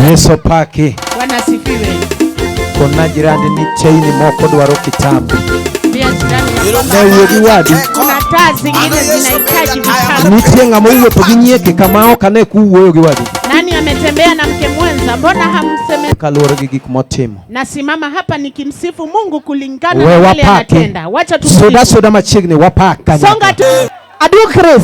Yesu paki. Bwana sifiwe. Kona jirani ni chaini moko dwaro kitabu. Newuodhi wadi. Kuna taa zingine zinahitaji vitabu. Nitie ng'ama owuotho gi nyieke kama ok ane kuwuoyo gi wadi. Nani ametembea na mke mwenza? Mbona hamseme? Kaluwore gi gik motimo. Nasimama hapa nikimsifu Mungu kulingana na kile anatenda. Wacha tu. Soda soda machiegni wapaka. Songa tu. Adu Chris.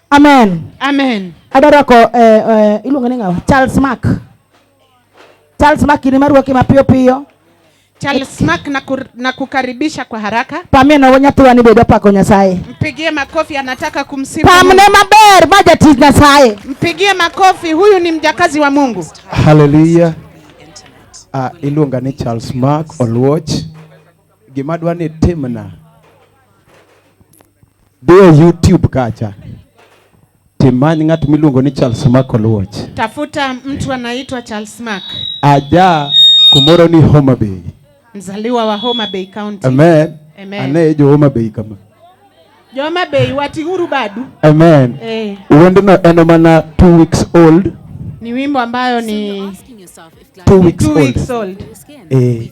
Amen. Amen. Adwa rwako eh, eh, iluongo ni ng'awa Charles Mark. Charles Mark ni marwaki mapiyo piyo. Charles Mark na, kur, na kukaribisha kwa haraka. Pamie na wanyathiwa ni bedo pako Nyasaye. Mpigie makofi anataka kumsifu. Pamne maber ma jatich Nyasaye. Mpigie makofi huyu ni mjakazi wa Mungu. Hallelujah. Ah, uh, iluonga ni Charles Mark Oluoch. Gima dwa ni timna Dhi e YouTube kacha. Timany ng'at miluongo ni Charles Mark Oluoch. Tafuta mtu anaitwa Charles Mark. Aja kumoro ni Homa Bay. Mzaliwa wa Homa Bay County. Amen. Amen. Anaye jo Homa Bay kama. Jo Homa Bay wating'uru badu. Amen. Eh. Wendno en mana two weeks old. Ni wimbo ambayo ni two weeks, two weeks old. old. Eh.